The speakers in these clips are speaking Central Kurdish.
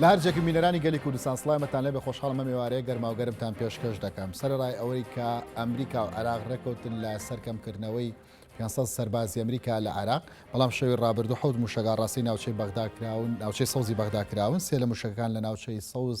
لە هەر جێکن بینەرانی گەلی کوردستان سڵایمەتان لێبێ خۆشحاڵم مەم ئێوارەیە گەرماو گەرمتان پێشکەش دەکەم سەرەڕای ئەوەی کە ئەمریکا و عێراق ڕێککەوتن لە سەر کەمکردنەوەی 500 سەربازی ئەمریکا لە عێراق بەڵام شەوی ڕابردوو حەوت موشەگا ڕاستی ناوچەی بەغدا کراون ناوچەی سەوزی بەغدا کراون سێ لە موشەکەکان لە ناوچەی سەوز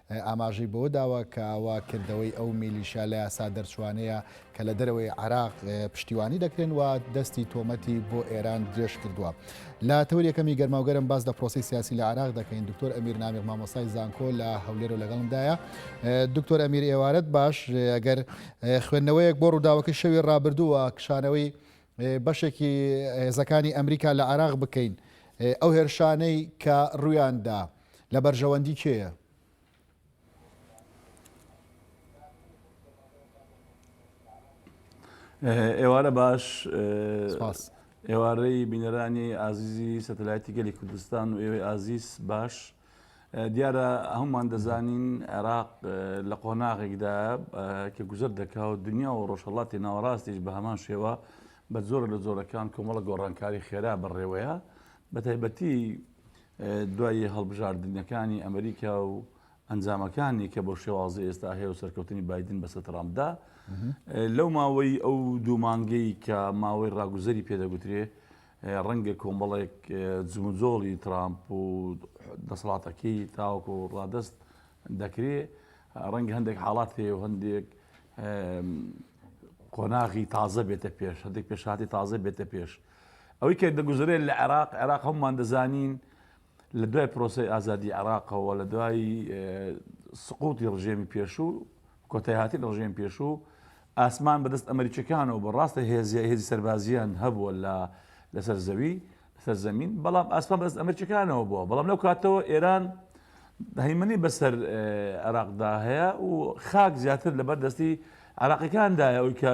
ئاماژەی بەوەداوە کە ئاوا کردەوەی ئەو میلیشیا لە یاسا دەرچووانەیە کە لە دەرەوەی عێراق پشتیوانی دەکرێن و دەستی تۆمەتی بۆ ئێران درێژ کردووە لە تەور یەکەمی گەرماوگەرم باس لە پرۆسی سیاسی لە عراق دەکەین دکتۆر ئەمیر نامیق مامۆستای زانکۆ لە هەولێر و لەگەڵمدایە دکتۆر ئەمیر ئێوارەت باش ئەگەر خوێندنەوەیەک بۆ ڕووداوەکە شەوی ڕابردووە کشانەوەی بەشێکی هێزەکانی ئەمریکا لە عراق بکەین ئەو هێرشانەی کە ڕویاندا لە بەرژەوەندی کێیە؟ ئێوارە باش ئێوارەی بینەرانی ئازیزی سەتەلایەتی گەلی کوردستان و ئێوەی ئازیز باش دیارە هەمومان دەزانین عێراق لە قۆناغێکدا کە گوزەر دەکا و دنیا و ڕۆژهڵاتی ناوەڕاستیش بە هەمان شێوە بە زۆر لە زۆرەکان کۆمەڵە گۆڕانکاری خێرا بەڕێوەیە بە تایبەتی دوای هەڵبژاردنەکانی ئەمریکا و ئەنجامەکانی کە بۆ شێوازی ئێستا هەیە و سەرکەوتنی بادن بەسە ترامپدا لەو ماوەی ئەو دوو مانگەی کە ماوەی ڕاگوزەری پێدەگوترێ ڕەنگە کۆمەڵێک جموجۆڵی ترامپ و دەسەڵاتەکەی تاوەکو ڕادست دەکرێ ڕەنگە هەندێک حاڵات هەیە و هەندێک قۆناغی تازە بێتە پێش هەندێک پێشاتی تازە بێتە پێش ئەوەی کە دەگوزەرێت لە عێراق، عێراق هەموومان دەزانین لە دوای پرۆسەی ئازادی عێراقەوە، لە دوای سقوتی ڕژێمی پێشوو، کۆتایهاتنی ڕژێمی پێشوو، ئاسمان بەدەست ئەمەریکییەکانەوە بوو، ڕاستە هێزی هێزی سەربازییان هەبووە لە لەسەر زەوی، لەسەر زەمین، بەڵام ئاسمان بەدەست ئەمەریکییەکانەوە بووە، بەڵام لەو کاتەوە ئێران هەیمەنەی بەسەر عێراقدا هەیە و خاک زیاتر لەبەر دەستی عێراقییەکاندایە، ئەوەی کە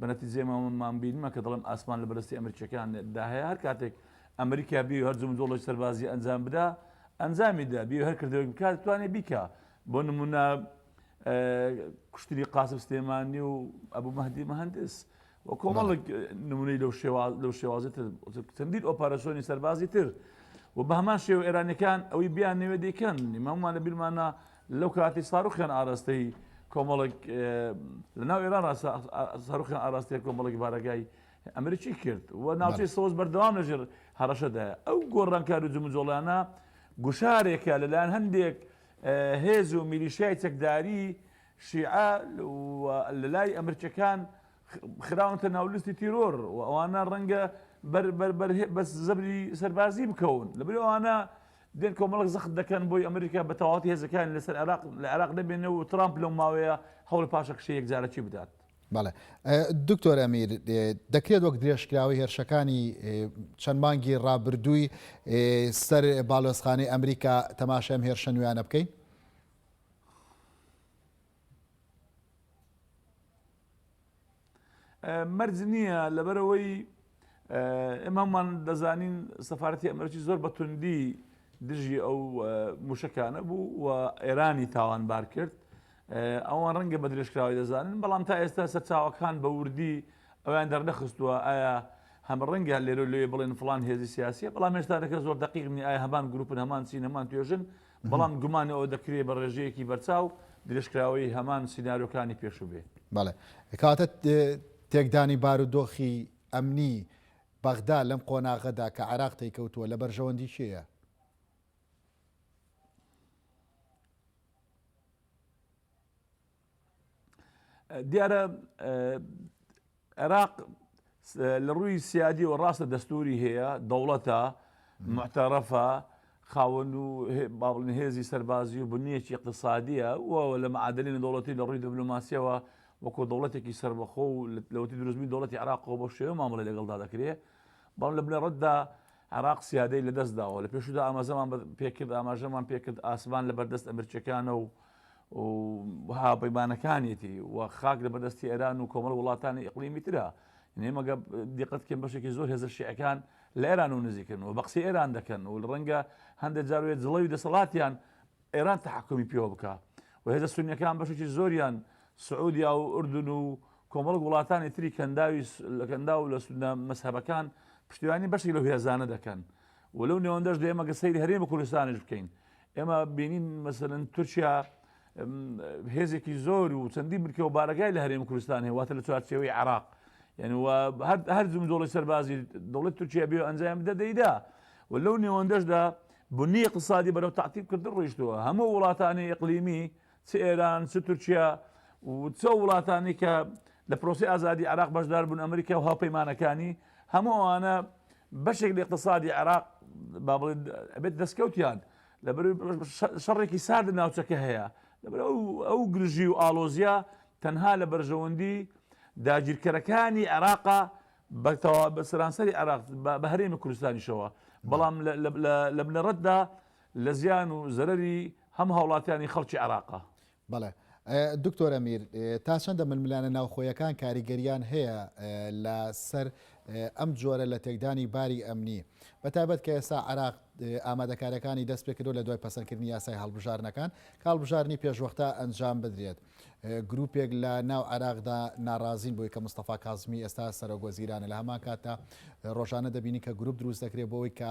بەنەتیجەی مامم بینمە کە دەڵێم ئاسمان لە بەردەستی ئەمریکیەکان دا هەیە هەر کاتێک ئەمریکا بیەوێ هەر جموجۆڵێکی سەربازی ئەنجام بدا ئەنجامی دا بیەوێ هەر کردەوەێک بکات دەتوانێ بیکا بۆ نمونە کوشتنی قاسم سلێمانی و ئەبوو مەهدی مهندس و کۆمەڵک نمونەی لەو شێواز لەو شێوازی تر چەندین ئۆپاراسۆنی سەربازی تر و بە هەمان شێوە ئێرانەکان ئەوەی بیان نوێ دەیکەن مامانە بیرمانە لەو کاتی ساروخیان ئاراستەی کۆمەڵێک لە ناو ئێران ساروخیان ئاراستەیە کۆمەڵێک بارەگای ئەمریکی کرد و ناوچەی سۆز بەردەوام لەژێر هەڕەشەدایە ئەو گۆڕانکار و جمجۆڵانە گوشارێکە لەلایەن هەندێک هێز و میلیشای چەکداری شیعە لە لای ئەمرچەکان خراونتە ناولستی تیرۆر و ئەوانە ڕەنگە بەس زەبری سەربازی بکەون لە بەرەوانە دێن کۆمەڵێک زەخت دەکەن بۆی ئەمریکا بە تەواوەتی هێزەکانی لەسەر عێراق لە عێراق نەبێنێ و ترامپ لەو ماوەیە هەوڵی پاشەکشەی یەکجارەکی بدات. بەڵێ. دکتۆر ئەمیر، دەکرێت وەک درێژکراوەی هێرشەکانی چەند مانگی ڕابردووی سەر باڵۆزخانەی ئەمریکا تەماشای ئەم هێرشە نوێیانە بکەین؟ مەرج نییە لەبەرەوەی ئێمەمان دەزانین سەفاەتی ئەمرکی زۆر بە توندی دژی ئەو موشەکانە بوو و ئێرانی تاوانبار کرد ئەوان ڕەنگە بە درێژکراوی دەزانن بەڵام تا ئێستا سەرچاوەکان بە وردی ئەویان دەرنەخستووە ئایا هەم ڕەنگە لێرە لێ بڵێن فلان هێزی سیاسیە بەڵام هێشتا دەکە زۆر دقیقنی ئایا هەمان گروپن هەمان چین هەمان توێژن بەڵام گومان ئەوە دەکرێ بە ڕێژەیەکی بەرچاو درێژکراوەی هەمان سینارۆکانی پێشوو بێ. بەڵێ. کەواتە تێکدانی بارودۆخی ئەمنی بەغدا لەم قۆناغەدا کە عێراق تێیکەوتووە لە بەرژەوەندی کێیە؟ دیارە عێراق لە ڕووی سیادیەوە ڕاستە دەستوری هەیە دەوڵەتە معتەرەفە خاوەن و باڵن هێزی سەربازی و بنیەکی اقتصادیە و لە معادلی نەدەوڵەتی لە ڕووی دبلوماسیەوە وەکۆ دەوڵەتێکی سربەخۆ و لەوتی دروستمی دەوڵەتی عراقەوە بۆ شێوە مامەڵی لەگەڵدا دەکرێت بەڵ لە بنەڕەتدا عراق سیادەی لەدەستداوە لە پێشدا ئامازەمان پێکرد ئاماژەمان پێکرد ئاسمان لە بەردەست ئەمرچەکانە و و هاپەیمانەکانیەتی و خاک لە بەردەستی ئێران و کۆمەڵ وڵاتانی ئیقلیمی ترە نێ مەگە دیقەت بکەن بەشێکی زۆر هێزە شیعەکان لە ئێران و نزیکن و بە قسەی ئێران دەکەن و ڕەنگە هەندێک جار وێ جڵەوی دەسەڵاتیان ئێران تحکمی پێوە بکە و هێزە سونیەکان بەشێکی زۆریان سعودیا و ئوردن و کۆمەڵک وڵاتانی تری کەنداوی لە کەندا و لە سودە مەسهبەکان پشتیوانی بەشێک لە هێزانە دەکەن و لەو نێوەندەش دێمەگە سەیری هەرێمە کوردستانیش بکەین ئێمە بینین مەسەلەن تورکیا هێزێکی زۆر و چەندی بکە و بارەگای لە هەرێم کوردستان هەیە واتە لە چوارچەوەی عراق یعنی هەر جم دۆڵی سەربازی دەڵێت تورکیا بێ ئەنجام بدە دەیدا و لەو نێوەندەشدا بنی اقتصادی بەرەو تعتیب کردن ڕۆیشتووە هەموو وڵاتانی ئەقلیمی چ ئێران، چ تورکیا و چ ئەو وڵاتانەی کە لە پرۆسەی ئازادی عێراق بەشدار بوون، ئەمریکا و هاوپەیمانەکانی، هەموو ئەوانە بەشێک لە ئیقتسادی عێراق با بڵێین ئەبێتە دەستکەوتیان، لەبەر شەڕێکی سارد لە ناوچەکە هەیە، لەبەر ئەو گرژی و ئاڵۆزییە تەنها لە بەرژەوەندی داگیرکەرەکانی عێراقە بە تەواوی بە سەرانسەری عێراق بە هەرێمی کوردستانیشەوە، بەڵام لە بنەڕەتدا لە زیان و زەرەری هەم هاوڵاتیانی خەڵکی عێراقە. بەڵێ. دکتۆر ئەمیر، تا چەندە ململانە ناوخۆیەکان کاریگەرییان هەیە لە سەر ئەم جۆرە لە تێکدانی باری ئەمنی، بە تایبەت کە ئێستا عێراق ئامادەکارییەکانی دەست پێ کردووە لە دوای پەسەندکردنی یاسای هەڵبژاردنەکان کە هەڵبژاردنی پێشوەختە ئەنجام بدرێت، گرووپێک لە ناو عێراقدا ناڕازین بۆی کە مستەفا کازمی ئێستا سەرۆکوەزیرانە، لە هەمان کاتدا ڕۆژانە دەبینین کە گرووپ دروست دەکرێت بۆ ئەوەی کە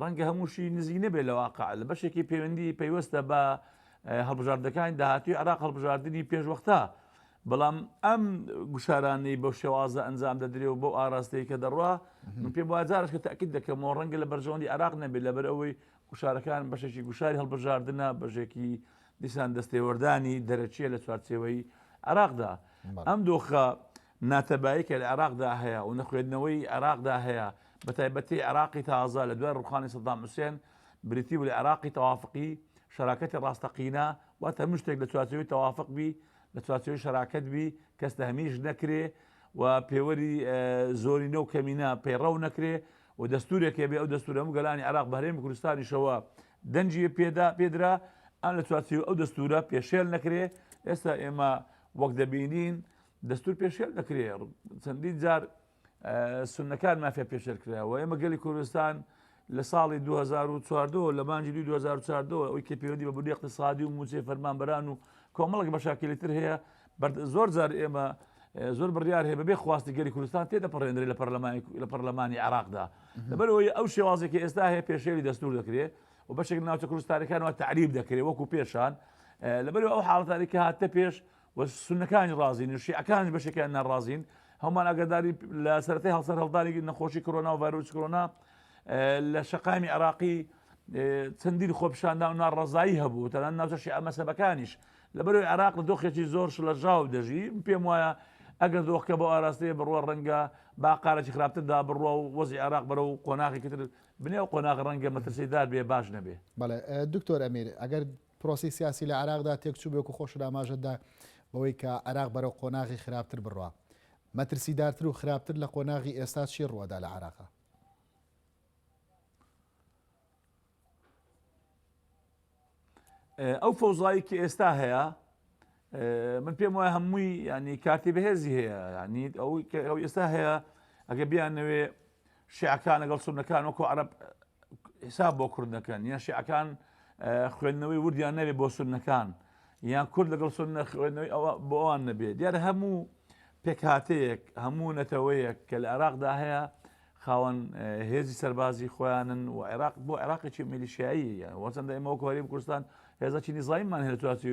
ڕەنگە هەمووشی نزیک نەبێت لە واقع، لە بەشێکی پەیوەندی پەیوەستە بە هەڵبژاردەکانی داهاتووی عێراق هەڵبژاردنی پێشوەختە، بەڵام ئەم گوشارانەی بەو شێوازە ئەنجام دەدرێ و بەو ئاراستەی کە دەڕوا من پێم وایە جارش کە تاکید دەکەمەوە ڕەنگە لە بەرژەوەندی عێراق نەبێت لەبەر ئەوەی گوشارەکان بەشێکی گوشاری هەڵبژاردنە بەشێکی دیسان دەستێوەردانی دەرەچیە لە چوارچێوەی عێراقدا ئەم دۆخە ناتەبایی کە لە عێراقدا هەیە و نەخوێندنەوەی عێراقدا هەیە، بەتایبەتی عێراقی تازە لە دوای ڕووخانی سەدام حوسێن، بریتی بوو لە عێراقی تەوافقی، شەراکەتی ڕاستەقینە، واتە هەموو شتێک لە چوارچێوەی تەوافق بی، لە چوارچێوەی شەراکەت بی، کەس تەهمیش نەکرێ و پێوەری زۆرینە و کەمینە پەیڕەو نەکرێ و دەستوورێک هەبێ، ئەو دەستوورە هەموو گەلانی عێراق بە هەرێمی کوردستانیشەوە دەنگی پێدرا، ئەم لە چوارچێوەی ئەو دەستوورە پێشێل نەکرێ، ئێستا ئێمە وەک دەبینین دەستور پێشێل دەکرێ چەندین جار سنەکان مافیا پێشێل کراوە ئێمە گەلی کوردستان لە ساڵی 2014 لە مانجی 2014 ئەوی کە پەیوەندی بە بودی اقتصادی و موچێ فەرمانبەران و کۆمەڵک بە شاکلی تر هەیە زۆر جار ئێمە زۆر بڕیار هەیە بەبێ خواستی گەری کوردستان تێ دەپەڕێنرێ لە پەرلەمانی لە پەرلەمانی عراقدا لەبەرەوەی ئەو شێوازێکی ئێستا هەیە پێشێری دەستور دەکرێت و بەشێک ناوچە کوردستانەکانەوە تعریب دەکرێت وەکو پێشان لەبەر ئەو حاڵتانی کە هاتە پێش و سوننەکانیش ڕازین و شیعەکانیش بەشێکیان ناڕازین، هەموومان ئاگاداری لە سەرەتای هەڵسەرهەڵدانی نەخۆشی کۆرۆنا و ڤایرۆسی کۆرۆنا لە شەقامی عێراقی چەندین خۆپیشاندان و ناڕەزایی هەبوو تەنان ناوچە شیعە مەسەبەکانیش لەبەرەوەی عێراق لە دۆخێکی زۆر شڵەژاو دەژی پێم وایە ئەگەر دۆخکە بۆ ئاراستەیە بڕوە ڕەنگە باقارێکی خراپتردا بڕوە و وەزی عێراق بەرە و قۆناغێکی تر بنێ و قۆناغ ڕەنگە مەترسیدار بێ باش نەبێ بەڵێ دکتۆر ئەمیر ئەگەر پرۆسەی سیاسی لە عێراقدا تێکچوو بێک و خۆشت ئاماژەت دا بەوەی کە عێراق بەرەو قۆناغی خراپتر بڕا. مەترسیدارتر و خراپتر لە قۆناغی ئێستا چی ڕووەدا لە عێراق؟ ئەو فەوزایەی کە ئێستا هەیە من پێم وایە هەمووی ینی کارتی بەهێزی هەیە ینی ئەو ئەو ئێستا هەیە ئەگە بیان نەوێ شیعەکان لەگەڵ سونەکان وەکو عرب حساب بۆ کورد دەکەن یان شیعەکان خوێندنەوەی وردیان نەبێ بۆ سونەکان یان کورد لەگەڵ سونە خوێندنەوەی ئەوە بۆ ئەوان نەبێ دیار هەموو پێکهاتەیەک هەموو نەتەوەیەک کە لە عێراقدا هەیە خاوەن هێزی سەربازی خۆیانن و عێراق بۆ عێراقێکی میلیشایی وەچەندە ئێمەوە کۆری کوردستان هێزەکی نیزایمان هێتواتی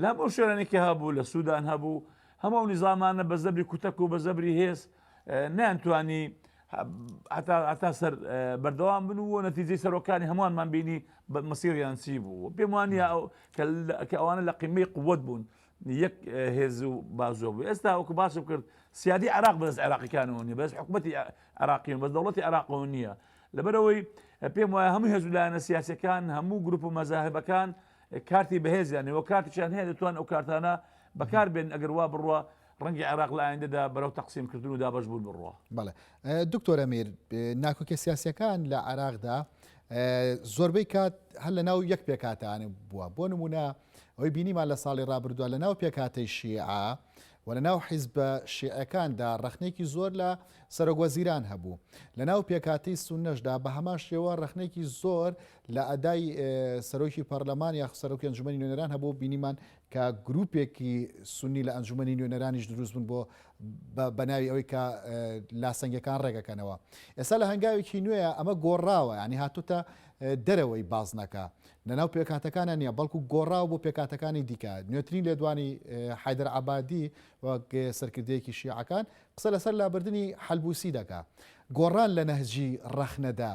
لە هەموو شوێنانی کە هەبوو لە سودان هەبوو هەموو ئەو نیزامانە بە زەبری کوتەک و بە زەبری هێز نیان توانی هەتا سەر بەردەوام بن و نەتیجی سەرۆکانی هەمووانمان بینی بە مەسیریان چی بوو پێم وانە کە ئەوانە لە قیمەی قوت بوون یەک هێز و بازۆ بوو ئێستا وەکو باسم کرد سیادی عراق بەس عراقیەکانەوە نیە بەس حکوومەتی عراقیون بە دەوڵەتی عراقەوە نییە لەبەرەوەی پێم وایە هەموو هێزولایەنە سیاسەکان هەموو گروپ و مەزاهبەکان کارتی بەهێزیان هەیە و کاتیشیان هەیە دەتوان ئەو کارتانە بەکار بێن ئەگەر وا بڕوا ڕەنگی عێراق لە ئایندەدا بەرەو تەقسیم کردن و دابش بوون بڕوە بەڵێ دکتۆرە میر ناکۆکە سیاسەکان لە عراقدا زۆربەی کات هەر لە ناو یەک پێکاتانە بووە بۆ نمونە ئەوی بینیمان لە ساڵی ڕابردووە لە ناو پێکاتی شیعە و لە ناو حیزبە شیعەکاندا ڕخنێکی زۆر لە سەرۆگوەزیران هەبوو لە ناو پێکاتی سونەشدا بە هەمان شێوە ڕخنێکی زۆر لە ئەدای سەرۆکی پەرلەمان یاخود سەرۆکی ئەنجومەنی نوێنەران هەبوو بینیمان کە گروپێکی سنی لە ئەنجومەنی نوێنەرانیش دروست بوون بۆ بەناوی ئەوەی کە لاسەنگەکان ڕێگەکەنەوە ئێستا لە هەنگاوێکی نوێە ئەمە گۆڕاوە ینی هاتوتە دەرەوەی بازنەکە لەناو پێکاتەکانە نییە بەڵکو گۆڕاو بۆ پێکاتەکانی دیکە نوێترین لێدوانی حیدر عبادی وەک سەرکردەیەکی شیعەکان قسە لەسەر لابردننی حلبوسی دەکا گۆڕان لە نەهجی ڕەخنەدا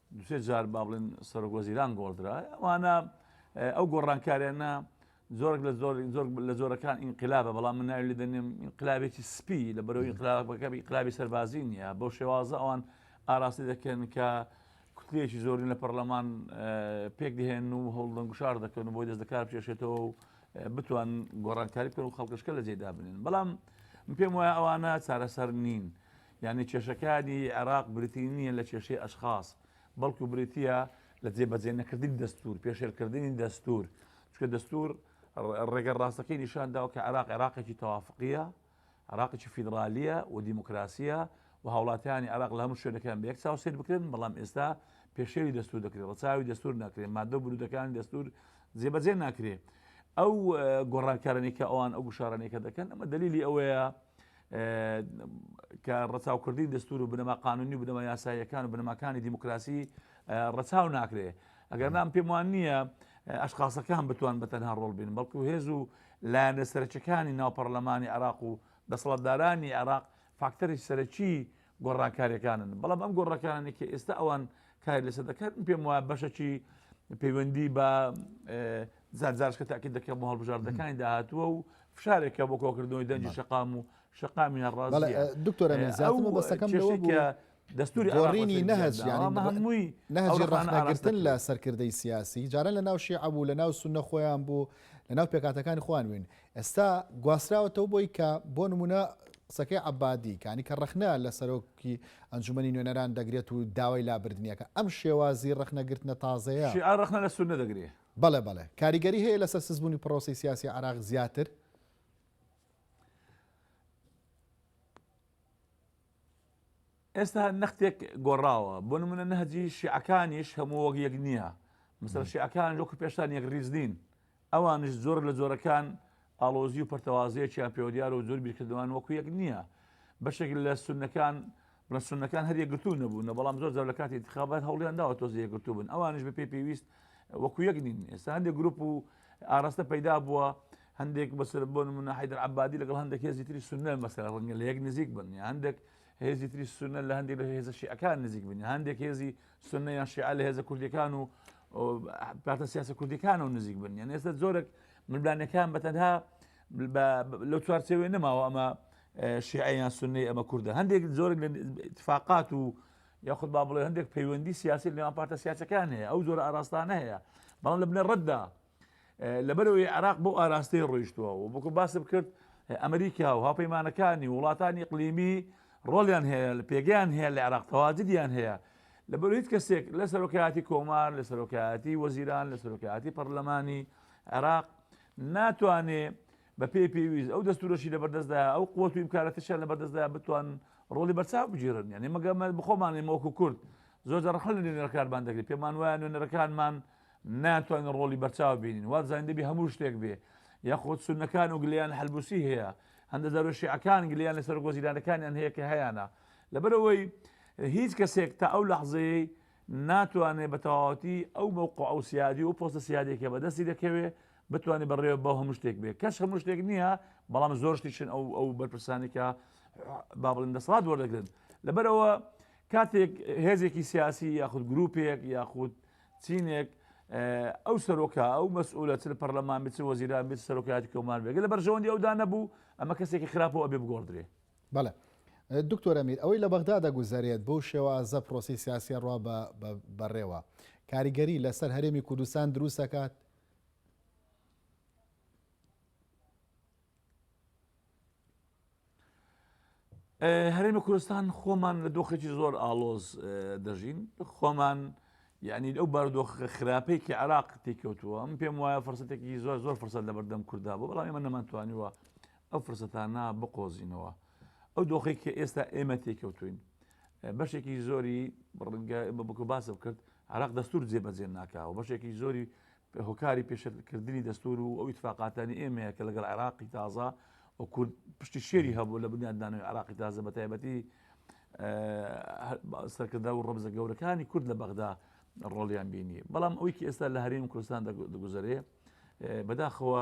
دوو سێ جار با بڵێن سەرۆک وەزیران گۆڕدرا ئەوانە ئەو گۆڕانکاریانە زۆرێک لە زۆر زۆر لە زۆرەکان ئینقلابە بەڵام من ناوی لە دەنێم ئینقلابێکی سپی لە بەرەوەی ئینقلابەکە ئینقلابی سەربازی نییە بەو شێوازە ئەوان ئاراستی دەکەن کە کوتلێکی زۆرین لە پەرلەمان پێک دهێن و هەوڵدەن گوشار دەکەن و بۆی دەست دەکار بچێشێتەوە و بتوان گۆڕانکاری بکەن و خەڵکشکە لە جێدا بنێن بەڵام پێم وایە ئەوانە چارەسەر نین یانی کێشەکانی عێراق بریتی نییە لە کێشەی ئەشخاس، بەڵکو بریتییە لە جێبەجێ نەکردنی دەستوور، پێشێلکردنی دەستوور، چونکە دەستوور ڕێگە ڕاستەکەی نیشان داوە کە عێراق عێراقێکی تەوافقییە، عێراقێکی فیدرالییە و دیموکراسییە و هاوڵاتیانی عێراق لە هەموو شوێنەکان بە یەک چاو سەیر بکرێن، بەڵام ئێستا پێشێلی دەستوور دەکرێت، ڕەچاوی دەستوور ناکرێت، ماددە و بنووتەکانی دەستوور جێبەجێ ناکرێت. ئەو گۆڕانکارانەی کە ئەوان ئەو گوشارانەی کە دەکەن، ئەمە دەلیلی ئەوەیە کە ڕەچاوکردنی دەستور و بنەما قانونی و بنەما یاساییەکان و بنەماکانی دیموکراسی ڕەچاو ناکرێ ئەگەر نام پێم وان نییە ئەشخاصەکان بتوان بە تەنها ڕۆڵ بین بەڵکو هێز و لایەنە سەرچەکانی ناو پەرلەمانی عراق و دەسەڵاتدارانی عراق فاکتەری سەرەکی گۆڕانکاریەکانن بەڵام ئەم گۆڕەکانانی کە ئێستا ئەوان کاری لەسەر دەکات پێم وایە بەشەکی پەیوەندی بە زارزارشکە تاکی دەکەم بۆ هەڵبژاردەکانی داهاتوە و فشارێکە بۆ کۆکردنەوەی دەنجی شقام و شقامی هەڕاز دکتۆرە بەسەکەم دەستوری ئەڕینی نەهج هەمووی نەهجی ڕەخنەگرتن لە سەرکردەی سیاسی جاران لە ناو شیعبوو لە ناو سونە خۆیان بوو لە ناو پێکاتەکانی خوانوین ئێستا گواستراوەتەوە بۆی کە بۆ نموونە قسەکەی عەبادی کانی کە ڕەخنە لە سەرۆکی ئەنجومەنی نوێنەران دەگرێت و داوای لابردنیەکە ئەم شێوازی ڕەخنەگرتنە تازەیە شیعە ڕەخنە لە سوننە دەگرێ. بەڵێ بەڵێ کاریگەری هەیە لەسەر سستبوونی پڕۆسەی سیاسی عێراق زیاتر. ئێستا نەختێک گۆڕاوە بۆ نمونە نەهجی شیعەکانیش هەموو وەک یەک نییە مثلا شیعەکان لۆکو پێشتان یەک ریز نین ئەوانش زۆر لە زۆرەکان ئاڵۆزی و پەرتەوازەیەکیان پێوەدیارە و زۆر بیرکردوان وەکو یەک نییە بەشێک لە سونەکان بڵە سونەکان هەر یەکگرتوو نەبوون نە بەڵام زۆر زۆر لە کاتی انتخابات هەوڵیان داوە تۆزی یەکگرتوو بن ئەوانش بە پێی پێویست وەکو یەک نین ئێستا هەندێک گروپ و ئاراستە پەیدا بووە هەندێک بەسەر بۆ منە حیدر عبادی لەگەڵ هەندێک هێزی تری سنە مەسەر ڕەنگە لە یەک نزیک بن یا هەندێک هێزی تری سونە لە هەندێک لە هێزە شیعەکان نزیک بن هەندێک هێزی سنە یان شیعە لە هێزە کوردەکان و پارتە سیاسە کوردەکان و نزیک بن یان ئێستا زۆرێک ملبانەکان بە تەنها لە چوارچەوێ نەماوە ئەمە شیعیان سنەی ئەمە کووردە هەندێک زۆرێک لە اتفاقات و یاخود با بڵێ هەندێک پەیوەندی سیاسی لەوان پارتە سیاسەکان هەیە ئەو زۆر ئاراستانە هەیە بەڵام لە بنە ڕەتدا لەبەرئەوەی عێراق بەو ئاراستەیە ڕۆیشتووە و وەکو باسم کرد ئەمریکا و هاوپەیمانەکانی وڵاتانی ئیقلیمی ڕۆڵیان هەیە لە پێگەیان هەیە لە عێراق تەواجدیان هەیە لەبەر هیچ کەسێک لە سەرۆکایەتی کۆمار لە سەرۆکایەتی وەزیران لە سەرۆکایەتی پەرلەمانی عێراق ناتوانێ بەپێی پێویست ئەو دەستورەشی لەبەردەستدا ئەو قوت و ئیمکارەتەشیان لەبەردەستدا بتوان ڕۆڵی بەرچاو بگیرن یعنی مەگەمە بخۆمانێ مۆکو کورد زۆر دەڕخل لە نوێنەرەکانمان دەگری پێمان وایە نوێنەرەکانمان ناتوانین ڕۆڵی بەرچاو بینین وابزانین دەبێ هەموو شتێک بێ یاخود سونەکان و گلیان حلبوسی هەیە هەندە جارۆ شیعەکان گلیان لە سەرۆک وەزیرانەکانیان هەیە کە هەیانە لەبەرەوەی هیچ کەسێک تا ئەو لەحزەیەی ناتوانێ بە تەواوەتی ئەو مەوقع و سیادی و پۆستە سیادی کە بەدەستی دەکەوێ بتوانێت بەڕێوە بەو هەموو شتێک بێ کەش هەموو شتێک نییە بەڵام زۆر شتیشن ئەو ئەو بەرپرسانی کە با بڵێن دەسەڵات وەردەگرن لەبەرەوە کاتێک هێزێکی سیاسی یاخود گروپێک یاخود چینێک ئەو سەرۆکە ئەو مەسئولە چ لە پەرلەمان بێت چ وەزیران بێت سەرۆکایەتی کۆمار بێت لە بەرژەوەندی ئەودا نەبوو ئەمە کەسێکی خراپەوە ئەبێ بگۆڕدرێ بەڵێ دکتۆرە میر ئەوەی لە بەغدا دەگوزارێت بەو شێوازە پرۆسی سیاسیە ڕوا بەڕێوە کاریگەری لەسەر هەرێمی کوردستان دروست دەکات هەرێمی کوردستان خۆمان لە دۆخێکی زۆر ئالۆز دەژین خۆمان یعنی ئەو باردۆخە خراپەی کە عراق تێکەوتووە ئەم پێم وایە فرسەتێکی زۆر زۆر فرسەت لە بەردەم کووردا بۆ بەڵام ئێمە نەمانتوانیوە ئەو فرسەتانە بقۆزینەوە ئەو دۆخی کە ئێستا ئێمە تێکەوتوین بەشێکی زۆری بڕنگە بە بکو باسە بکرد عراق دەستور جێبەجێ ناکاوە بەشێکی زۆری هۆکاری پێشێلکردنی دەستوور و ئەو ئیتفاقاتانی ئێمەیە کە لەگەڵ عێراقی تازە و کورد پشتی شێری هەبوو لە بنیادنانەوەی عراقی تازە بە تایبەتی سەرکردە و ڕەبزە گەورەکانی کورد لە بەغدا ڕۆڵیان بینی بەڵام ئەوی کە ئێستا لە هەرێم کوردستان دەگوزارێ بەداخەوە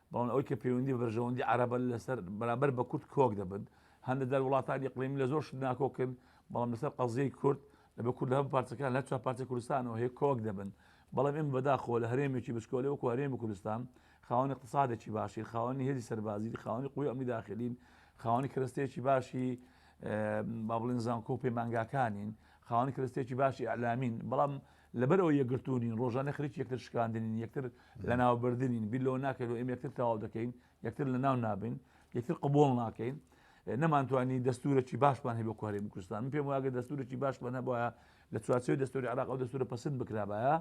بەڵام ئەوەی کە پەیوەندی بە بەرژەوەندی عەرەبە لەسەر بەرامبەر بە کورد کۆک دەبن، هەندێک جار وڵاتانی ئیقلیمی لە زۆر شت ناکۆکن، بەڵام لەسەر قەزیەی کورد، لەبەر کورد لە هەموو پارچەکان، لە هەر چوار پارچەی کوردستانەوە هەیە کۆک دەبن، بەڵام ئێمە بەداخەوە لە هەرێمێکی بچکۆلەی وەکو هەرێمی کوردستان، خاوەن ئیقتسادێکی باشین، خاوەنی هێزی سەربازین، خاوەنی قوی ئەمنی داخلین، خاوەنی کەرەستەیەکی باشی با بڵێن زانکۆ و پەیمانگاکانین، خاوەنی کەرەستەیەکی باشی ئیعلامین، بەڵام لەبەرئەوەی یەکگرتوونین، ڕۆژانە خەریکی یەکتر شکاندنین، یەکتر لەناوبردنین، بیر لەوە ناکەین و ئێمە یەکتر تەواو دەکەین، یەکتر لەناو نابەین، یەکتر قبووڵ ناکەین. نەمانتوانی دەستوورێکی باشمان هەبێت بۆ هەرێمی کوردستان. من پێم وایە ئەگەر دەستوورێکی باشمان هەبوایە لە چوارچێوەی دەستووری عێراق ئەو دەستوورە پەسند بکرابایە،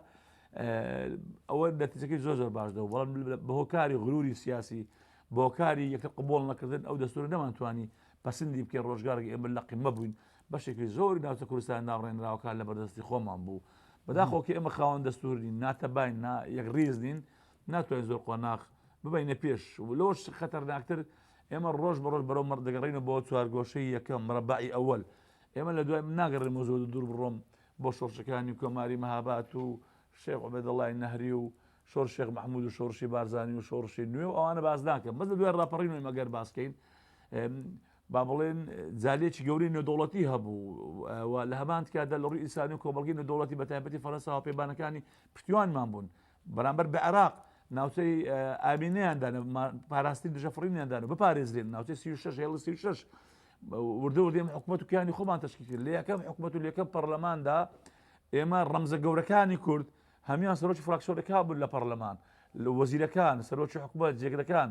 ئەوە نەتیجەکەی زۆر زۆر باش دەبوو، بەڵام بە هۆکاری غرووری سیاسی، بە هۆکاری یەکتر قبووڵ نەکردن ئەو دەستوورە نەمانتوانی پەسندی بکەین، ڕۆژگارێک ئێمە لەقیمە بووین، بەشێکی زۆری ناوچە کوردستان ناڕێنراوەکان لە بەردەستی خۆمان بوو بەداخۆکی ئێمە خاوەن دەستورین ناتەبین نا یەکڕیز نین ناتوانین زۆر قۆناخ ببینە پێش لۆش خەتەرناکتر ئێمە ڕۆژ بە ڕۆژ بەرەو مەڕ دەگەڕینە بۆ چوارگۆشەی یەکەم ڕەبعی ئەوەل ئێمە لە دوای ناگەڕێن مۆزۆ دوور بڕۆم بۆ شۆڕشەکانی کۆماری مەهابات و شێخ عبێدەڵای نەهری و شۆر شێخ مححمود و شۆڕشی بارزانانی و شۆڕشی نوێ و ئەوانە باز ناکەم بەس لە دوای ڕاپەڕین و مەگەر باسکەین با بڵێین جالێکی گەورەی نێودەوڵەتی هەبوو و لە هەمان کاتدا لە ڕووی ئینسانی و کۆمەڵگەی نێودەوڵەتی بە تایبەتی فەرەنساوە پێبانەکانی پشتیوانمان بوون بەرامبەر بە عێراق ناوچەی ئامینیاندا پاراستنی دژە فڕینیاندان و بپارێزرێن ناوچەی 36 هێڵ 36 وردە وردێم حکوومەت و کیانی خۆمان تشکی کرد لە یەکەم حکوومەت و لەکەم پەرلەماندا ئێمە ڕەمزە گەورەکانی کورد هەمان سەرۆکی فراکسۆرەکە بوون لە پەرلەمان لە وەزیرەکان سەرۆکی حکوومەت جێگرەکان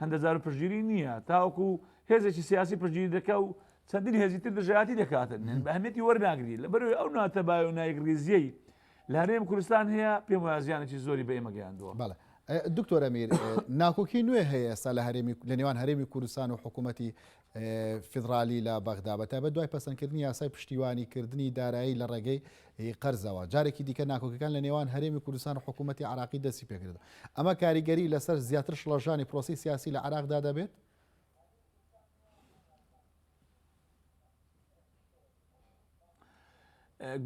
هەندە جار پشتگیری نییە تاوەکو هێزێکی سیاسی پشتگیری دەکە و چەندین هێزی تر دژایەتی دەکاتن نێن بە هەمێتی وەرناگری لە بەروی ئەو ناتە باە و نایکریزیەی لە هەرێم کوردستان هەیە پێم وازیانێکی زۆری بە ئێمە گەیاندووە بەڵێ دکتۆرە میر ناکۆکی نوێ هەیە ئێستا لە هەرێمی لە نێوان هەرێمی کوردستان و حکوومەتتی فیدڕالی لە بەغدا، بە تایبەت دوای پەسەندکردنی یاسای پشتیوانیکردنی دارایی لە ڕێگەی قەرزەوە، جارێکی دیکە ناکۆکیەکان لە نێوان هەرێمی کوردستان و حکوومەتی عێراقی دەستی پێکردووە. ئەمە کاریگەری لەسەر زیاتر شڵەژانی پرۆسەی سیاسی لە عێراقدا دەبێت؟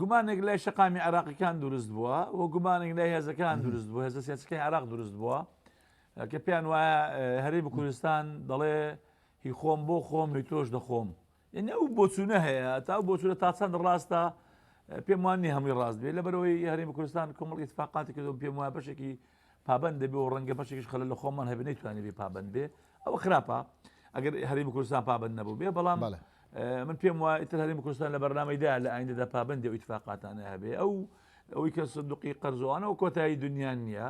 گومانێک لای شەقامی عراقیەکان دروست بووە و گومانێک لای هێزەکان دروست بوو هێزە سیاسەکەی عراق دروست بووە کە پێیان وایە هەرێمی کوردستان دەڵێ هی خۆم بۆ خۆم هی تۆش دەخۆم یعنی ئەو بۆچوونە هەیە تا ئەو بۆچوونە تا چەند ڕاستە پێم وان نیە هەمووی ڕاست بێت لەبەرەوەی هەرێمی کوردستان کۆمەڵ ئیتفاقاتی کردو پێم وایە بەشێکی پابەند دەبێ و ڕەنگە بەشێکیش خەلە لە خۆمان هەبێ نەیتوانێ بێ پابەند بێ ئەوە خراپە ئەگەر هەرێمی کوردستان پابەند نەبوو بێ بەڵام بەڵێ من پێم وایە تر هەرێمی کوردستان لە بەرنامەیدا لە ئایندەدا پابەندی و ئیتفاقاتانە هەبێ ئەو ئەوەی کە سندوقی قەرزوانەوە کۆتایی دنیا نییە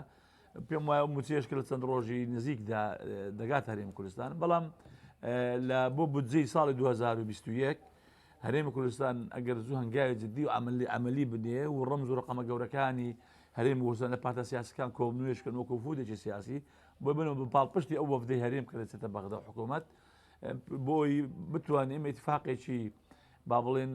پێم وایە ئەو موچەیەش کە لە چەند ڕۆژی نزیکدا دەگات هەرێمی کوردستان بەڵام لە بۆ بودجەی ساڵی 2021 هەرێمی کوردستان ئەگەر زوو هەنگاوی جددی و عملی عملی بنێ و ڕەمز و ڕقەمە گەورەکانی هەرێم وسان لە پارتە سیاسەکان کۆبنوێشکن وەکو فودێکی سیاسی بۆ بنەوە بە پاڵپشتی ئەو وەفدەی هەرێم کە لەچێتە بەغدا حکوومەت بۆی بتوانێت ئێمە اتفاقێکی با بڵێین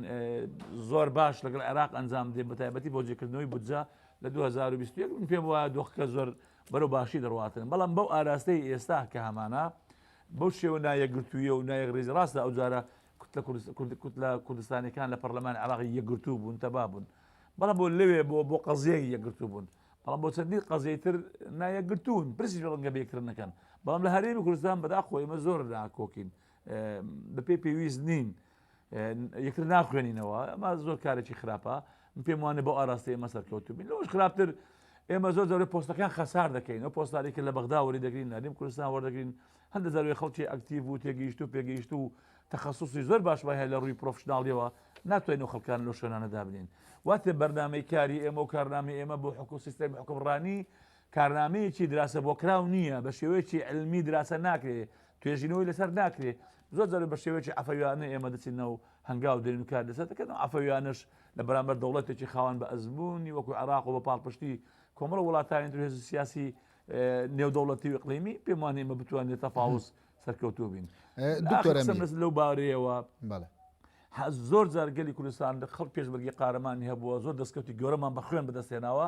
زۆر باش لەگەڵ عێراق ئەنجام دێ بەتایبەتی بۆ جێکردنەوەی بودجە لە 2021 من پێم وایە دۆخکە زۆر بەرەو باشی دەڕاتن بەڵام بەو ئاراستەی ئێستا کە هەمانە بەو شێوە نایەکگرتوویە و نایەک ڕێزی ڕاستە ئەو جارە کوتلە کوتلە کوردستانەکان لە پەرلەمان عراقی یەکگرتوو بوون تەبا بوون بەڵام بۆ لەوێ بۆ بۆ قەزیەک یەکگرتوو بوون بەڵام بۆ چەندی قەزیتر نایەکگرتوون پرسی ڕەنگە بێکردنەکەن بەڵام لە هەرێمی کوردستان بەدا خۆیمە زۆر ناکۆکین بەپێی پێویست نین یەکتر ناخوێنینەوە ئەمە زۆر کارێکی خراپە من پێم وانە بۆ ئاراستی ئێمە سەرکەوت بین لەش خراپتر ئێمە زۆر زۆر پۆستەکان خەسار دەکەین و پۆستارێکی لە بەغدا وەری دەگرین نادیم کوردستان وەردەگرین هەندە زەروی خەڵکی ئەکتیو و تێگەیشت و پێگەیشت و تەخصصی زۆر باشمان هەیە لە ڕووی پرۆفشنناڵیەوە ناتوانین و خەڵکان لە شوێنانە دابنین واتێ بەرنمەی کاری ئێمە و کارنامی ئێمە بۆ حکو سیستەی حکومڕانی کارنامەیەکی دراسە بۆ کراو نییە بە شێوەیەکی علمی دراسە ناکرێت توێژینەوەی لەسەر ناکرێ زۆر جار بە شێوەیەکی عەفەویانە ئێمە دەچینە و هەنگاو دێنین و کار لەسەر دەکەن و عەفەویانەش لە بەرامبەر دەوڵەتێکی خاوەن بە ئەزموونی وەکو عێراق و بە پاڵپشتی کۆمەڵە وڵاتانی تر هێز سیاسی نێودەوڵەتی و ئیقلیمی پێم وانە ئێمە بتوانین لە تەفاوز سەرکەوتوو بین دکتۆر ئەمین. قسەم لەو بارەیەوە بەڵێ ها زۆر جار گەلی کوردستان لە خەڵک پێشمەرگی قارەمانی هەبووە زۆر دەستکەوتی گەورەمان بە خوێن بەدەستێناوە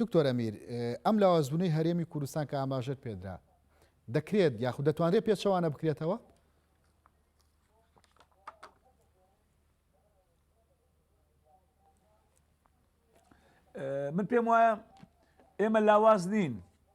دکتۆر ئەمیر، ئەم لاوازبوونەی هەرێمی کوردستان کە ئاماژەت پێدرا، دەکرێت یاخود دەتوانرێت پێچەوانە بکرێتەوە؟ من پێم وایە ئێمە لاواز نین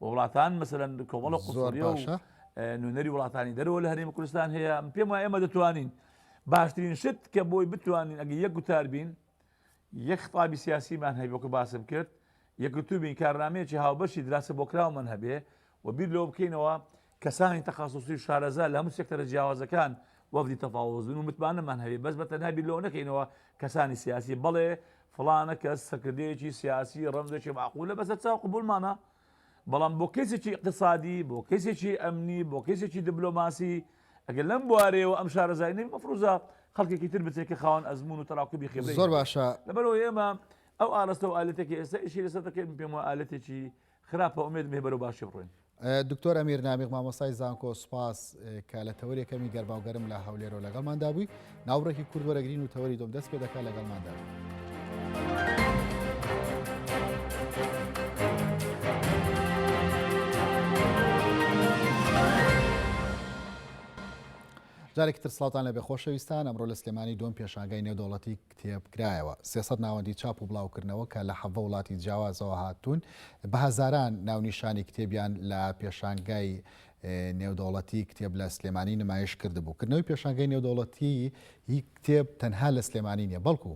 و وڵاتان مەسەلەن کۆمەڵە زۆر قوسڵیە و باشە اه، نوێنەری وڵاتانی دەرەوە لە هەرێمی کوردستان هەیە پێم وایە ئێمە دەتوانین باشترین شت کە بۆی بتوانین ئەگە یەک گوتار بین یەک خطابی سیاسیمان هەبێ وەکو باسم کرد یەکگرتوو بین کارنامەیەکی هاوبەشی دراسە بۆکراومان هەبێ و بیر لەوە بکەینەوە کەسانی تەخەسوسی و شارەزا لە هەموو سێکتەرە جیاوازەکان وەفدی تەفاوز بن و متمانەمان هەبێت بەس بە تەنها بیر لەوە نەکەینەوە کەسانی سیاسی بەڵێ فڵانە کەس سەرکردەیەکی سیاسی ڕەمزێکی معقولە بەسەر چاو قبولمانە بەڵام بۆ کەسێکی اقتصادی بۆ کەسێکی ئەمنی بۆ کەسێکی دبلۆماسی ئەگەر لەم بوارەیەوە ئەم شارەزای نەبی مەفروزە خەڵکێکی تر بچێت کە خاوەن ئەزمون و تەراکوبی خێبرەی زۆر باشە لەبەرەوە ئێمە ئەو ئاراستە و ئالەتێکی ئێستا ئیشی لەسەر دەکەین پێم وە ئالەتێکی خراپە ئومێدم هەیە بەرەو باشی بڕۆین. دکتۆر ئەمیر نامیق مامۆستای زانکۆ سوپاس کە لە تەوەری یەکەمی گەرما و گەرم لە هەولێرەوە لەگەڵماندا بووی ناوڕێکی کورد وەرەگرین و تەوەری دۆم دەست پێ دەکات لەگەڵماندا جارێکی تر سڵاتان لە بێ خۆشەویستان ئەمڕۆ لە سلێمانی دۆم پێشانگای نێودەوڵەتی کتێب کرایەوە. سێ سەد ناوەندی چاپ و بڵاوکردنەوە کە لە حەڤە وڵاتی جیاوازەوە هاتوون، بە هەزاران ناونیشانی کتێبیان لە پێشانگای نێودەوڵەتیی کتێب لە سلێمانی نمایش کردبوو. کردنەوەی پێشانگای نێودەوڵەتیی کتێب تەنها لە سلێمانی نییە، بەڵکو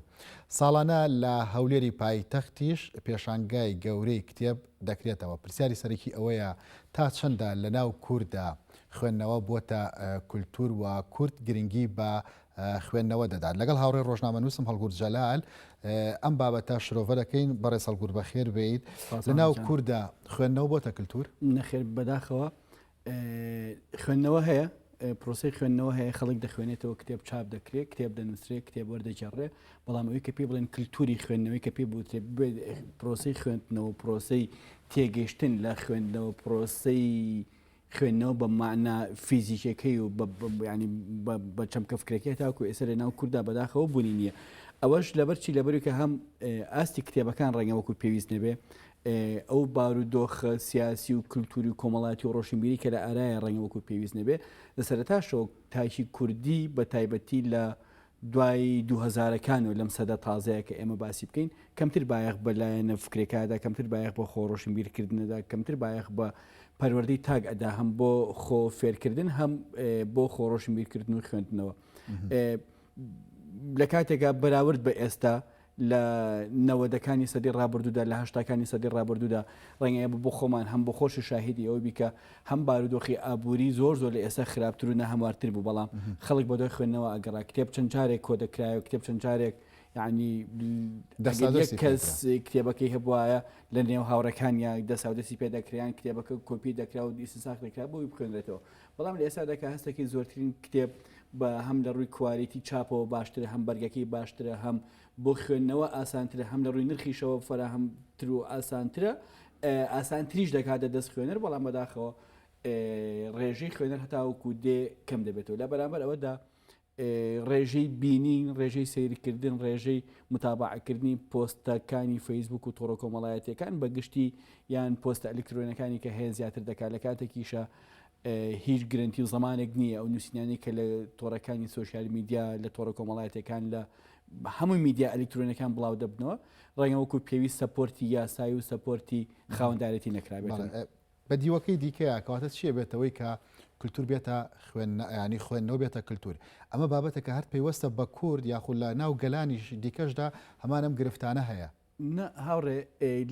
ساڵانە لە هەولێری پایتەختیش پێشانگای گەورەی کتێب دەکرێتەوە. پرسیاری سەرەکی ئەوەیە تا چەندە لەناو کورددا خوێندنەوە بووەتە کولتوور و کورد گرنگی بە خوێندنەوە دەدات. لەگەڵ هاوڕێ ڕۆژنامەنووسم هەڵگورد جەلال ئەم بابەتە شرۆڤە دەکەین بەڕێز هەڵگور بەخێر بێیت لەناو کووردا خوێندنەوە بۆتە کللتور نەخێر بەداخەوە خوێندنەوە هەیە پرۆسی خوێندنەوە هەیە خەڵک دەخوێنێتەوە کتێب چاپ دەکرێت کتێب دەنووسێت کتێب وەردەجێڕێ بەڵام ئەوی کە پێ بڵێن کللتوری خوێندنەوەی کە پێ بوتێ پرۆسی خوێندنەوە پرۆسی تێگەشتن لە خوێندنەوە پرۆسی خوێندنەوە بە مانا فیزیکیەکەی و بە چەمکە فکرەکەی تاکو ئێستا لە ناو کووردا بەداخەوە بوونی نییە ئەوەش لەبەر چی لەبەری کە هەم ئاستی کتێبەکان ڕێنگەوەکو پێویست نەبێ ئەو بارودۆخە سیاسی و کللتوری و کۆمەڵاتی و ڕۆشنبیری کە لە ئارایە ڕێنگەوەکو پێویست نەبێ لە سەرتاشەوە تاکی کوردی بە تایبەتی لە دوای دوو هەزارەکان و لەم سەدە تازەیە کە ئێمە باسی بکەین، کەمتر بایەخ بە لایەنە فکرێکادا، کەمتر بایەخ بە خۆ ڕۆشنبیرکردنەدا، کەمتر بایەخ بە پەروەردەی تاک ئەدا، هەم بۆ خۆ فێرکردن، هەم بۆ خۆ ڕۆشنبیرکردن و خوێندنەوە. لە کاتێکا بەراورد بە ئێستا، لە نەوەدەکانی سەدەی ڕابردوودا، لە هەشتاکانی سەدەی ڕابردوودا، ڕەنگە ئێمە بۆ خۆمان هەم بۆ خۆشی شاهیدی ئەوە بی کە هەم بارودۆخی ئابووری زۆر زۆر لە ئێستا خراپتر و ناهەموارتر بوو بەڵام خەڵک بەدوای خوێندنەوە ئەگەڕا، کتێب چەند جارێک کۆ دەکرایەوە، کتێب چەند جارێک یەعنی ئەگەر یەک کەس کتێبەکەی هەبوایە لە نێو هاوڕێکانیا دەساودەستی پێ دەکرایان، کتێبەکە کۆپی دەکرا و ئیستنساخ دەکرا بۆ ئەوەی بخوێنرێتەوە، بەڵام لە ئێستادا کە هەستەکەی زۆرترین کتێب بە هەم لە ڕووی کوالیتی چاپەوە باشترە هەم بەرگەکەی باشترە هەم بۆ خوێندنەوە ئاسانترە هەم لە ڕووی نرخیشەوە فەراهەمتر و ئاسانترە ئاسانتریش دەکاتە دەست خوێنەر بەڵام بەداخەوە ڕێژەی خوێنەر هەتاوەکو دێ کەم دەبێتەوە لە بەرامبەر ئەوەدا ڕێژەی بینین، ڕێژەی سەیرکردن، ڕێژەی متابەعەکردنی پۆستەکانی فەیسبووک و تۆڕە کۆمەڵایەتیەکان بە گشتی یان پۆستە ئەلیکترۆنەکانی کە هەیە زیاتر دەکات لە کاتێکیشە هیچ گرنتی و زمانێک نییە ئەو نووسینانی کە لە تۆڕەکانی سوۆسیال میدیا لە تۆڕە کۆمەڵایەتەکان لە هەموو میدیا ئەلیکترۆنەکان بڵاو دەبنەوە ڕێنەوەکو پێویست سەپۆرتی یاسایی و سەپۆرتی خاوەندارێتی نەکرابێت بە دیوەکەی دیکەیا کەواتە چیە بێتەوەی کە کلتور بێتە خوێن یانی خوێندنەوە بێتە کلتور ئەمە بابەتەکە هەر پەیوەستە بە کورد یاخود لە ناو گەلانیش دیکەشدا هەمان ئەم گرفتانە هەیە. نا هاوڕێ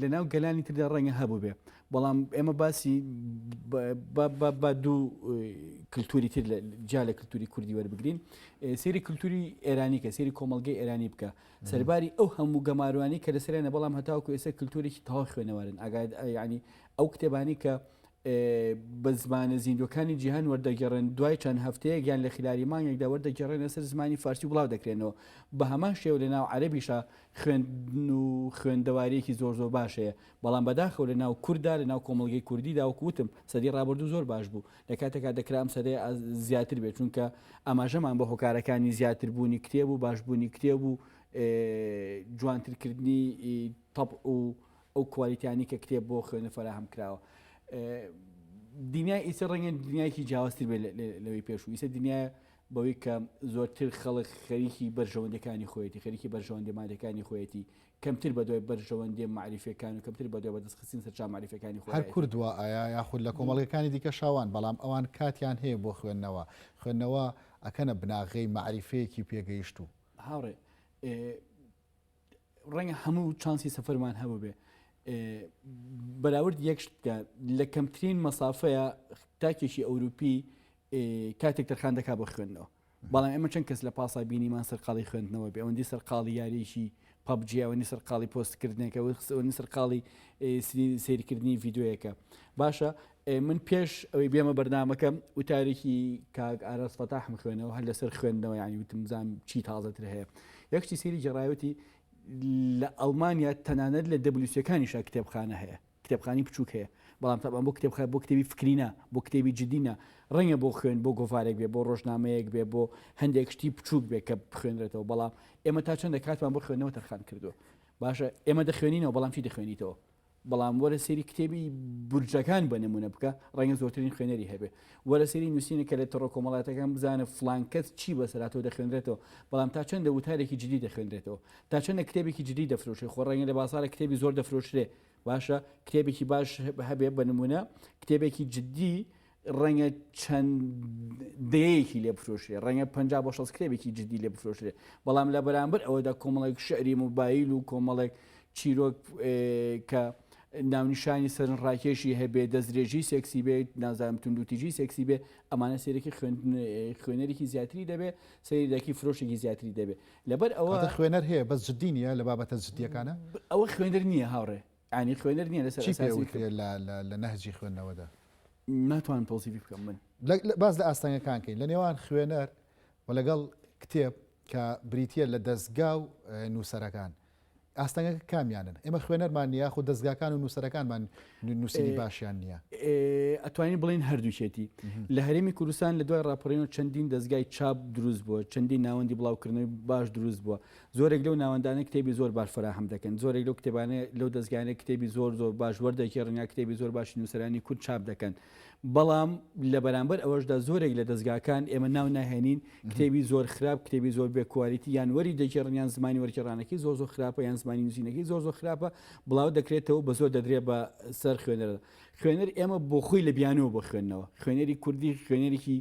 لە ناو گەلانی تردا ڕەنگە هەبووبێ بەڵام ئێمە باسی با دوو کلتوری تر جیا لە کلتوری کوردی وەربگرین سری کلتوری ئێرانی کە سری کۆمەلگەی ئێرانی بکە سەرباری ئەو هەموو گەماروانی کە لەسەرێنە بەڵام هەتاوکو ئێستا کلتورێکی تەوا خوێنەوارن ئاگاد ینی ئەو کتێبانەی کە بە زمانە زیندوەکانی جیهان وەردەگەڕێن دوای چەند هەفتەیە گیان لە خلالی مانگێکدا وەردەگەڕێنە سەر زمانی فارسی بڵاو دەکرێنەوە بە هەمان شێو لە ناو عەربیشە خوێندن و خوێندەوارێکی زۆر زۆر باشەیە بەڵام بەداخەوە لە ناو کووردا لە ناو کۆمەلگەی کوردی داوکوتم سەدی ڕابردوو زۆر باش بوو لە کاتێکا دەکرام سەدەی زیاتر بێت چونکە ئاماژەمان بە هۆکارەکانی زیاتر بوونی کتێب و باشبوونی کتێب و جوانترکردنی تەپ و ئەو کوالیتیانەی کە کتێب بۆ خوێنەر فەراهەم کراوە دنیای ئیسە ڕەنگە دنیایکی جیاوازتر بێت لەوەی پێشوو ئیسە دنیای بەوەی کە زۆرتر خەڵک خەریکی بەرژەوەندەکانی خۆیەتی خەریکی بەرژەوەندی مادەکانی خۆیەتی کەمتر بە دوای بەرژەوەندی معریفەکان و کەمتر بە دوای بەدەستخستین سەر چامعریفەکانی خۆ هەر کوردوە ئایا یاخود لە کۆمەڵگەکانی دیکە شاوان بەڵام ئەوان کاتیان هەیە بۆ خوێندنەوە خوێندنەوە ئەکەنە بناغەی معریفەیەکی پێگەیشتوو هاوڕێ ڕەنگە هەموو چانسی سەفەرمان هەبووبێ بەراورد یەک شتکە لە کەمترین مەسافەیە تاکێکی ئەوروپی کاتێک تەرخان دەکا بۆ خوێندنەوە بەڵام ئێمە چەند کەس لە پاسا بینیمان سەرقاڵی خوێندنەوە بێ ئەوەندی سەرقاڵی یاریشی پبجیەوەنی سەرقاڵی پۆستکردنێکەوەنی سەرقاڵی سریکردنی یددیوەکە باشە من پێش ئەوەی بێمە بەرنمەکەم وتارێکی کاک ئاراس فەتاحم خوێنەوە هەر لەسەر خوێندنەوە ینی وتمزان چی تازەتر هەیە یەکشتی سری جێڕایوتی لە ئەڵمانیا تەنانەت لە دەبلیوسەکانیشا کتێبخانە هەیە کتێبخانی بچووک هەیە بەڵام تەبان بۆ کتێبخە بۆ کتێبی فکرینە بۆ کتێبی جددینە ڕەنگە بۆ خوێن بۆ گۆڤارێک بێ بۆ ڕۆژنامەیەک بێ بۆ هەندێک شتی بچووک بێ کە بخوێنرێتەوە بەڵام ئێمە تا چەندە کاتمان بۆ خوێنەوە تەرخان کردو باشە ئێمە دەخوێنینەوە بەڵام چی دەخوێنیتەوە بەڵام وەرە سەیری کتێبی بورجەکان بە نمونە بکە ڕەنگە زۆرترین خوێنەری هەبێ وەرە سەیری نووسینە کە لە تەڕۆ کۆمەڵاتەکان بزانە فلانکەس چی بەسەراتەوە دەخوێنرێتەوە بەڵام تا چەندە وتارێکی جدی دەخوێنرێتەوە تا چەندە کتێبێکی جدی دەفرۆشێ خۆ ڕەنگە لە بازارە کتێبی زۆر دەفرۆشرێ باشە کتێبێکی باش هەبێ بە نمونە کتێبێکی جدی ڕەنگە چەند دەیەیەکی لێ بفرۆشرێ ڕەنگە پ بۆ شەست کرێبێکی جدی لێ بفرۆشرێ بەڵام لە بەرامبەر ئەوەدا کۆمەڵێک شعری موبایل و کۆمەڵێک چیرۆک کە ناونیشانی سەرن ڕاکێشی هەبێ دەسترێژی سێکسی بێت نازانم توندوتیژی سێکسی بێ ئەمانە سێرەکی خوێنەرێکی زیاتری دەبێ سەیری دەکی فرۆشێکی زیاتری دەبێت لەبەر ئەوە خوێنەر هەیە بەس جددی نیە لە بابەتە جددیەکانە ئەوە خوێنەر نییە هاوڕێ یانی خوێنەر نیە لەسەر ئەساسی کەم. چی پێ وترێ لە نەهجی خوێندنەوەدا؟ ناتوانم تەوسیفی بکەم من. باس لە ئاستەنگەکان کەین لە نێوان خوێنەر و لەگەڵ کتێب کە بریتیە لە دەستگا و نووسەرەکان. ئاستەنگەکە کامیانن ئێمە خوێنەرمان نیە خو دەستگاکان و نووسەرەکانمان نووسری باشیان نییە ئەتوانین بڵین هەردووچێتی لە هەرێمی کوردستان لە دوای راپەڕین و چەندین دەستگای چاپ دروست بووە چەندین ناوەندی بڵاوکردنەوەی باش دروست بووە زۆرێک لەو ناوەندانە کتێبی زۆر باش فەراهەم دەکەن، زۆرێک لەو کتێبانە لەو دەزگایانە کتێبی زۆر زۆر باش وەردەگێڕن یا کتێبی زۆر باشی نووسەرانی کورد چاپ دەکەن، بەڵام لە بەرامبەر ئەوەشدا زۆرێک لە دەزگاکان ئێمە ناو ناهێنین کتێبی زۆر خراپ، کتێبی زۆر بێ کوالیتی یان وەری دەگێڕن یان زمانی وەرگێڕانەکەی زۆر زۆر خراپە یان زمانی نووسینەکەی زۆر زۆر خراپە بڵاو دەکرێتەوە بە زۆر دەدرێ بە سەر خوێنەردا. خوێنەر ئێمە بۆ خۆی لە بیانووە بۆ خوێندنەوە خوێنەری کوردی خوێنەرێکی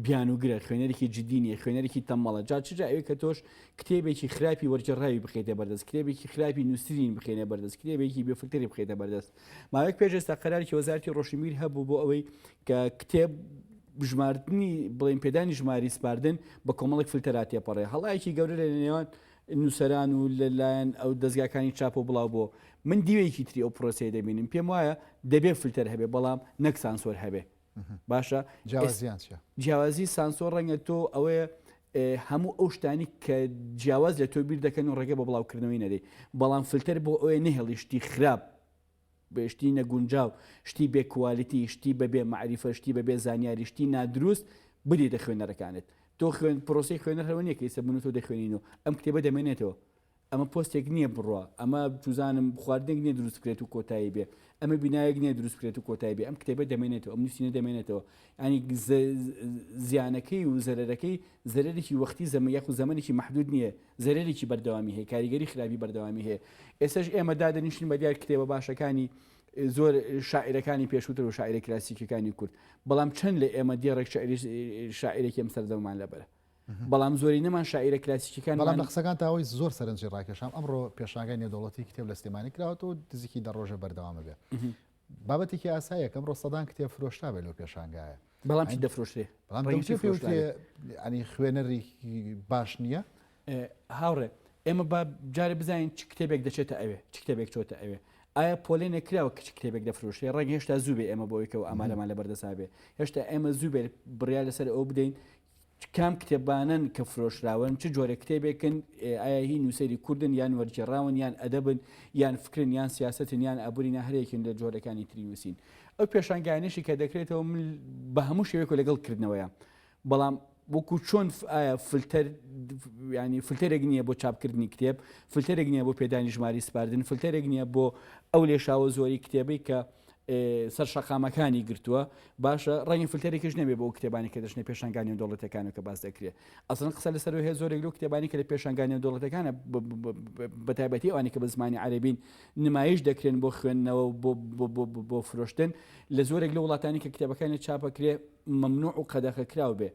بیانووگرە، خوێنەرێکی جدی نییە، خوێنەرێکی تەمبەڵە، جا چ جا ئەوێ کە تۆش کتێبێکی خراپی وەرگێڕراوی بخەیتە بەردەست، کتێبێکی خراپی نووسرین بخەینە بەردەست، کتێبێکی بێ فلتەری بخەیتە بەردەست. ماوەیەک پێش ئێستا قەرارێکی وەزارەتی ڕۆشنبیر هەبوو بۆ ئەوەی کە کتێب بژماردنی بڵێن پێدانی ژماری سپاردن بە کۆمەڵێک فلتەرا تێپەڕێ هەڵایەکی گەورە لە نێوان نووسەران و لەلایەن ئەو دەستگاکانی چاپ و بڵاو بۆ من دیوێکی تری ئەو پرۆسەیە دەبینم پێم وایە دەبێ فلتەر هەبێ بەڵام نەک سانسۆر هەبێ باشە جیاوازیان چیە؟ جیاوازی سانسۆر ڕەنگە تۆ ئەوەیە هەموو ئەو شتانی کە جیاواز لە تۆ بیر دەکەن و ڕێگە بە بڵاوکردنەوەی نەدەی بەڵام فلتەر بۆ ئەوێ نەهێڵی شتی خراپ بەشتی نەگونجاو شتی بێ کوالیتی شتی بەبێ معریفە شتی بەبێ زانیاری شتی نادروست بدی دە خوێنەرەکانت تۆ خوێن پرۆسی خوێنەرەوە نیەکەی سە بن تۆ دەخوێنین و ئەم کتێبە دەمێنێتەوە ئەمە پۆستێک نیە بڕوا ئەمە چوزانم خواردنێک نیە دروست بکرێت و کۆتایی بێ ئەمە بینایەک نیە دروست بکرێت و کۆتایی بێ ئەم کتێبە دەمێنێتەوە ئەم نووسینە دەمێنێتەوە ینی زیانەکەی و زەرەرەکەی زەرێکی وەختی زەمە یاخ و زەمەێکی محدود نییە زەرێکی بەردەوامی هەیە کاریگەری خراپی بەردەوامی هەیە ئێسش ئێمە دادەنیشتین بە دیار کتێبە باشەکانی زۆر شاعیرەکانی پێشووتر و شاعیرە کلاسیکەکانی کورد بەڵام چەند لە ئێمە دێڕێک شاعیرێکی ئەم سەردەمان لەبەرە بەڵام زۆرینەمان شاعیرە کلاسیکیەکان بەڵام لە قسەکان تاوەی زۆر سەرنجی ڕاکێشام ئەمڕۆ پێشانگای نێودەوڵەتی کتێب لە سلێمانی کراوەەوە و دزیکی دە ڕۆژە بەردەوامە بێ بابەتێکی ئاسایە کەم ڕۆستەدان کتێب فرۆشتا بێت لەو پێشانگایە بەڵام دەفرۆشتێ ئەنی خوێنەری باش نییە هاوڕێ ئێمە با جارە بزانین چ کتێبێک دەچێتە ئەوێ چ کتێبێک چۆتە ئەوێ ئایا پۆلێ نەکراوە کچ کتێبێک دەفرۆشێ ڕێک هێشتا زووبێ ئێمە بۆیکەوە ئامارەمان لە بەردەسابێ هێشتا ئێمە زووبێت بڕیا لەسەر ئەو بدەین کام کتێبانەن کە فرۆشراون چ جۆرە کتێبێکن ئایا هی نووسری کوردن یان وەرجێڕاون یان ئەدەبن یان فکرن یان سیاستن یان ئابوورینا هەرێکن لە جۆرەکانی تری نووسین ئەو پێشانگانیشی کە دەکرێتەوە من بە هەموو شێوێک لەگەڵ کردنەوەیە بەڵام وەکو چۆن ئایا فلتەر ینی فلتەرێک نییە بۆ چاپکردنی کتێب فلتەرێک نییە بۆ پێدانی ژماری سپاردن فلتەرێک نییە بۆ ئەو لێشاوە زۆری کتێبی کە سەر شەقامەکانی گرتووە باشە ڕەنگە فلتەرێکش نەبێ بۆ کتێبانی کە دەچنە پێشانگا نێودەوڵەتەکانە کە باس دەکرێت ئەسڵەن قسە لەسەر هەیە زۆرێک لەو کتێبانی کە لە پێشانگا نێودەوڵەتەکانە بە تایبەتی ئەوانی کە بە زمانی عەرەبین نمایش دەکرێن بۆ خوێندنەوە و بۆ- بۆ- بۆ- بۆ- بۆ فرۆشتن لە زۆرێک لە وڵاتانی کە کتێبەکانی چاپەکرێ ممنوع و قەدەخە کراو بێ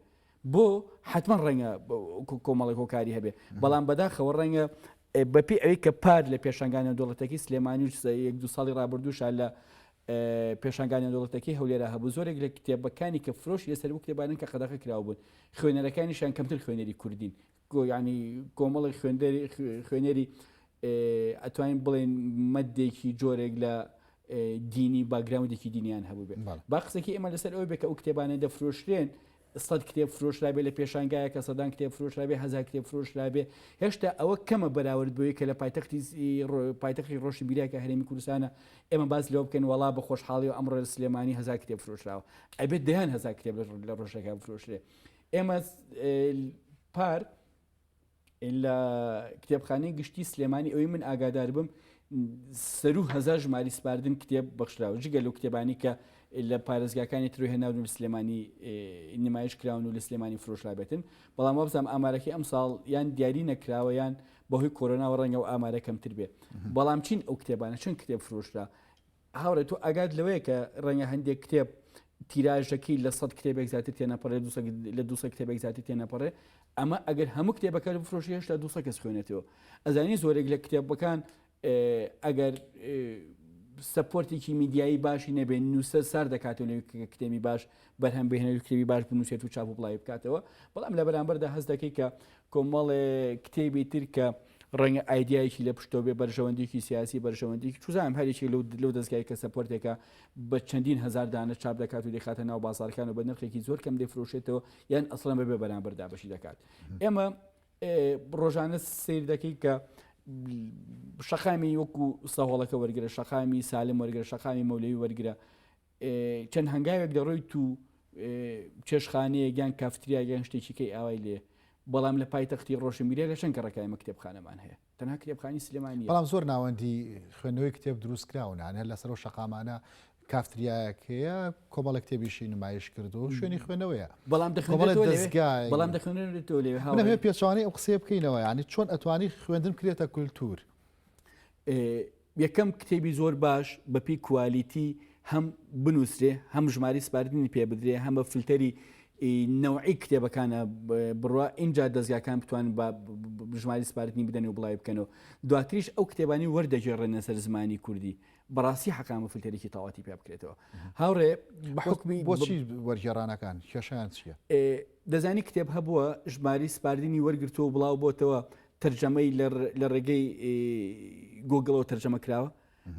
بۆ حتمما ڕەنگە کۆمەڵی هۆکاری هەبێ بەڵام بەداخەوە ڕەنگە بەپی ئەوەی کە پار لە پێشنگانە دەوڵەتەکەی سلێمانی و یەک دو ساڵی ڕابردووشە لە پێشنگانە دەوڵەتەکەی هەولێرا هەبوو زۆرێک لە کتێبەکانی کە فرۆش لەسەر و کتێبانن کە قەدەغە کراوە بوون خوێنەرەکانیشان کەمتر خوێنەری کوردین گۆ یانی کۆمەڵێک خوێندەری خوێنەری ئەتوانین بڵێن مەدێکی جۆرێک لە دینی باگراوندێکی دینیان هەبوو بێت با قسەکی ئێمە لەسەر ئەوە بێت کە ئەو کتێبانە دەفرۆشرێن سەد کتێب فرۆشرابێ لە پێشانگایە کە سەدان کتێب فرۆشرابێ هزار کتێب فرۆشرابێ هێشتا ئەوە کەمە بەراورد بۆی کە لە پایتەختی پایتەخی ڕۆشی بیراکە هەرێمی کوردستانە ئێمە باز لەوە بکەن وڵا بە خۆشحاڵی و ئەمڕۆ سلێمانی هزار کتێب فرۆشراوە ئەبێت دەیان هزار کتێب لە ڕۆژەکە فرۆشرێ ئێما پار لە کتێبخانەی گشتی سلێمانی ئەوی من ئاگادار بم سەرو هزار ژماری سپاردن کتێب بەخشراوە جگە لەو کتێبانی کە لە پارێزگاکانی ترۆ هێناون لە سلێمانی نمایش کراون و لە سلێمانی فرۆشرابێتن بەڵام وابزانام ئامارەکەی ئەم ساڵ یان دیاری نەکراوە یان بەهۆی کۆرۆناوە ڕەنگە و ئامارە کەمتر بێت بەڵام چین ئەو کتێبانە چون کتێب فرۆشرا هاوڕێ تۆ ئاگات لەوەیە کە ڕەنگە هەندێک کتێب تیراژەکەی لە سەد کتێبێک زیاتر تێنەپەڕێ لە دو کتێبێک زیاتر تێنەپەڕێ ئەمە ئەگەر هەموو کتێبەکە لە بفرۆشی هێشتا دو کەس خوێنێتەوە ئەزانی زۆرێک لە کتێبەکان ئەگەر سپۆرتێکی میدیایی باشی نەبێن نووسەر سار دەکاتەوە لە کتێبی باش بەرهەم بهێنێت و کتێبی باش بنووسێت و چاپ و بڵاوی بکاتەوە بەڵام لە بەرامبەردا هەست دەکەی کە کۆمەڵێ کتێبی تر کە ڕەنگە ئایدایەکی لە پشتۆ بێ بەرژەوەندێکی سیاسی بەرژەوەندێکی چوزانم هەرێکی لەو لەو دەستگای کە سەپۆرتێکە بە چەندین هزار دانە چاپ دەکات و دەخاتە ناو بازارکان و بە نرخێکی زۆر کەم دەفرۆشێتەوە یان ئەسڵەن بەبێ بەرامبەر دابشی دەکات ئێمە ڕۆژانە سیر دەکەیت کە شەقامی وەکو سەهۆڵەکە وەرگرە شەقامی سالم وەرگرە شەقامی مەولەوی وەرگرە چەند هەنگاوێک دەڕۆیت و چێشخانەیەک یان کافتریاک یان شتێکی کەی ئاوای لێ بەڵام لە پایتەختی ڕۆشنبیرە لە چەند کەڕەکای مە کتێبخانەمان هەیە تەنها کتێبخانی سلێمانی بەڵام زۆر ناوەندی خوێندنەوەی کتێب دروست کراون هەر لەسەر و شقامانە کافتریایەکەیە کۆمەڵە کتێبیشی نمایش کرد و شوێنی خوێنەوەیە بەڵام بەڵام دەخوێنێتەوە لێ هەڵێ پێچوانی ئەو قسەیە بکەینەوە ینی چۆن ئەتوانی خوێندن کرێتە کولتور یەکەم کتێبی زۆر باش بەپێی کوالیتی هەم بنوسرێ هەم ژماری سپاردنی پێ بدرێ هەمە فلتەری نەوعی کتێبەکانە بڕە ئینجا دەستگاکان بتوان بە ژماری سپاردنی بدەن و بڵاوی بکەنەوە دواتریش ئەو کتێبانی وەردەگێڕێنە سەر زمانی کوردی بەڕاستی حقامە فلتەرێکی تەواتی پێ بکرێتەوە هاوڕێ بەحکمی بۆچی وەرگێڕانەکان کێشیان چیە دەزانی کتێب هەبووە ژماری سپاردنی وەرگرتو و بڵاو بۆتەوە تەرجەمەی لە ڕێگەی گۆگڵەوە تەرجەمە کراوە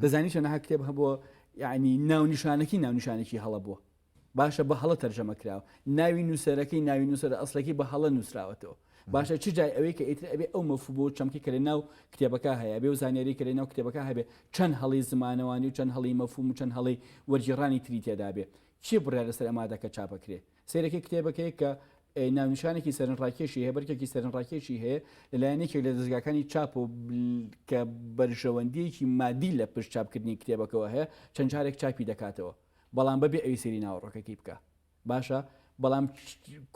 دەزانی چەنەها کتێب هەبووە یعنی ناونیشانەکی ناونیشانێکی هەڵە بووە باشە بە هەڵە تەرجەمە کراوە ناوی نووسەرەکەی ناوی نووسەر ئەسلەکەی بە هەڵە نووسراوەتەوە باشە چ جای ئەوەی کە ئیتر ئەبێ ئەو مەفو بۆ چەمکی کەێ ناو کتێبەکە هەیە بێ و زانێری کەێ ناو کتێبەکە هەبێ چەند هەڵی زمانەوانی و چەند هەڵی مەفوم و چەند هەڵی وەرجیڕانی تری تێدابێ چی بڕێ لەسەر ئەمادەکە چاپەکرێ سەیرەکەی کتێبەکەی کە ناونیشانێکی سەرنڕاکێشی هەیە بەرکێکی سەرنڕاکێشی هەیە لەلایەن یەکێک لە دەستگاکانی چاپ و کە بەرژەوەندیەکی مادی لە پشت چاپکردنی کتێبەکەەوە هەیە چەند جارێک چاپی دەکاتەوە بەڵام بەبێ ئەوی سری ناوەڕۆکەکەی بکە باشە بەڵام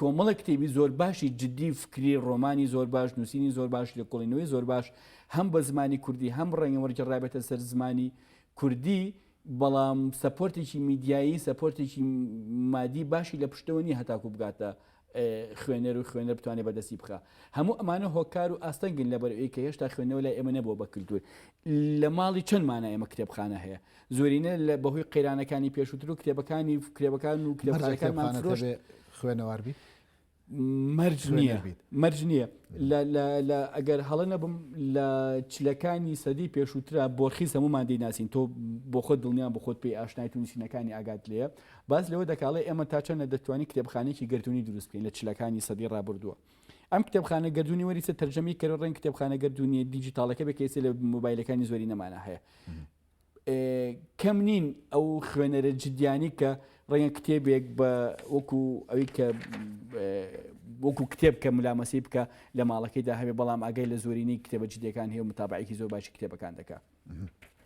کۆمەڵە کتێبی زۆر باشی جددی فکری ڕۆمانی زۆر باش نووسینی زۆر باش لە کوڵینەوەی زۆر باش هەم بە زمانی کوردی هەم ڕەنگە وەرجڕابێتە سەر زمانی کوردی بەڵام سەپۆرتێکی میدیایی سەپۆرتێکی مادی باشی لە پشتەوە نیە هەتاکو بگاتە خوێنەر و خوێنەر بتوانێ بەدەستی بخا هەموو ئەمانە هۆکار و ئاستەنگن لەبەر ئەوەی کە هێشتا خوێندنەوە لای ئێمە نەبووە بە کلتور لە ماڵی چەند مانە ئێمە کتێبخانە هەیە زۆرینە لە بەهۆی قەیرانەکانی پێشووتر و کتێبەکانی کتێبەکان و کتێبخانەکانمان فرۆشت خوێنەواربی مەرج نییە مەرج نییە ئەگەر هەڵە نەبم لە چلەکانی سەدی پێشووترا بۆرخی هەمومان دەیناسین تۆ بۆ خۆت دڵنیان بۆ خۆت پێی ئاشنای تونووسینەکانی ئاگات لێە باز لەوە دەکاڵێ ئێمە تا چەندە دەتوانانی کتێبخانێکی گردردونی دروست بکەین لە چلەکانی سەدی ڕابردووە ئەم کتێبخانە گردردونی وەریسە تەرجەمی کەرە ڕێن کتێبخانە گردردونی دیجیتالەکە بکەیت لە موبایلەکانی زۆری نەمانە هەیە کەم نین ئەو خوێنەرە جدیانی کە ڕەنگە کتێبێک بە وەکو ئەوی کە وەکو کتێب کە ملامەسی بکە لە ماڵەکەیدا هەبێ بەڵام ئەگەی لە زۆرینی کتێبە جدیەکان هەیە و متابعێکی زۆر باشی کتێبەکان دەکە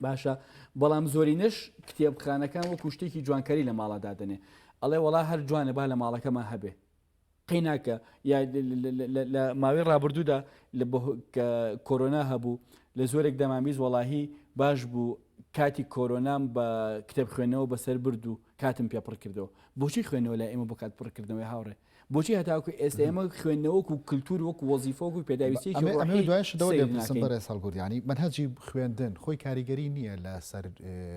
باشە بەڵام زۆرینش کتێبخانەکان وەکو شتێکی جوانکاری لە ماڵەدا دەنێ ئەڵێ وڵا هەر جوانە با لە ماڵەکەمان هەبێ قەیناکە یا لە ماوەی ڕابردوودا کە کۆرۆنا هەبوو لە زۆرێک دەمامیز وەڵاهی باش بوو کاتی کۆرۆنام بە کتێب خوێنەوە بەسەر برد و کاتم پێ پڕ کردەوە بۆچی خوێنەوە لە ئێمە بۆ کات پڕکردنەوەی هاوڕێ بۆچی هەتاکو ئێستا ئێمە خوێندنەوەک و کللتور وەک وەزیفۆک و پێداویستی بەرێز هەڵگوردیانی بەنهجی خوێندن خۆی کاریگەری نییە لەسەر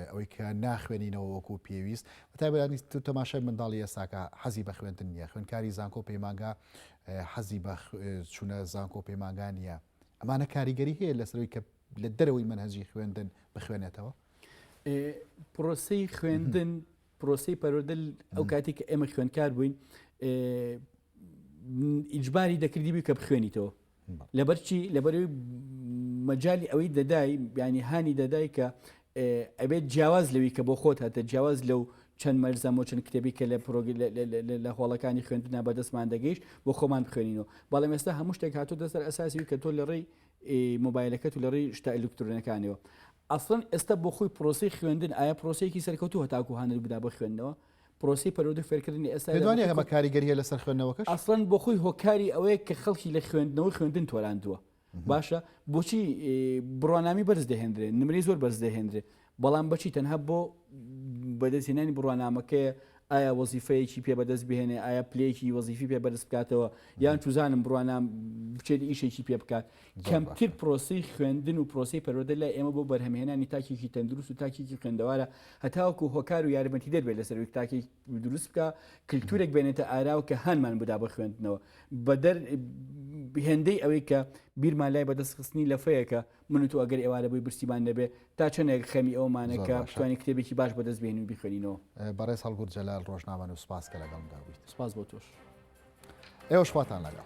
ئەوەی کە ناخوێنینەوە وەکو پێویست تایبەتانی تر تەماشای منداڵی ئێستاکە حەزی بە خوێندن نییە خوێندکاری زانکۆ و پەیمانگا حەزی بە چوونە زانکۆ و پەیمانگا نییە ئەمانە کاریگەری هەیە لەسەرەوەی کە لە دەرەوەی منهجی خوێندن بخوێنێتەوە پرۆسی خوێندن پرۆسی پەرۆدل ئەو کاتی کە ئێمە خوێندکار بووین ئیجباری دەکردی بی کە بخوێنیتەوە لەبەرچی لەبەروی مەجای ئەوەی دەدای بیانی هانی دەدای کە ئەبێت جیاواز لەوی کە بۆ خۆت هاتە جیاواز لەو چەند مەرزە و چەند کتێبی کە لە پرۆگ لە هۆڵەکانی خوێندنا بەدەستمان دەگەیشت بۆ خۆمان بخوێنینەوە بەڵام ئێستا هەموو شتێک هاتو دەسەر ئەساسی کە تۆ لە ڕێی مۆبایلەکەت و لە ڕێی شتا ئەلکترۆنەکانەوە ئەسڵن ئێستا بۆ خۆی پرۆسی خوێندن ئایا پرۆسێکی سەرکەوتو هەتاکو هەنر بدا بە خوێندنەوە پرۆسەی پەروەردە و فێرکردنی ئێستا پێت وانیە ئەمە کاریگەری هەیە لەسەر خوێندنەوەکەش؟ ئەسڵەن بۆ خۆی هۆکاری ئەوەیە کە خەڵکی لە خوێندنەوە و خوێندن تۆراندووە باشە بۆچی بڕوانامی بەرز دەهێندرێت نمرەی زۆر بەرز دەهێندرێت بەڵام بەچی تەنها بۆ بەدەستهێنانی بڕوانامەکەیە ئایا وەزیفەیەکی پێ بەدەست بهێنێ ئایا پلەیەکی وەزیفی پێ بەرز بکاتەوە یان توزانم بڕوانام بچێت ئیشێکی پێ بکات کەمتر پرۆسەی خوێندن و پرۆسەی پەروەردە لای ئێمە بۆ بەرهەمهێنانی تاکێکی تەندروست و تاکێکی خوێندەوارە هەتاوەکو هۆکار و یارمەتیدەر بێت لەسەر ئەوەی تاکی دروست بکە کلتورێک بێنێتە ئاراوە کە هانمان بدا بە خوێندنەوە بەدەر هێندەی ئەوەی کە بیرمان لای بەدەست خستنی لەفەیەکە من و تۆ ئەگەر ئێوارە بۆی برسیمان نەبێ تا چەندێک خەمی ئەومانە کە پشتوانی کتێبێکی باش بەدەست بێنین و بیخوێنینەوە بەڕێز هەڵگورد جەلال ڕۆژنامەن و سپاس کە لەگەڵمدا بوویت سپاس بۆ تۆش. ئێوەش خواتان لەگەڵ.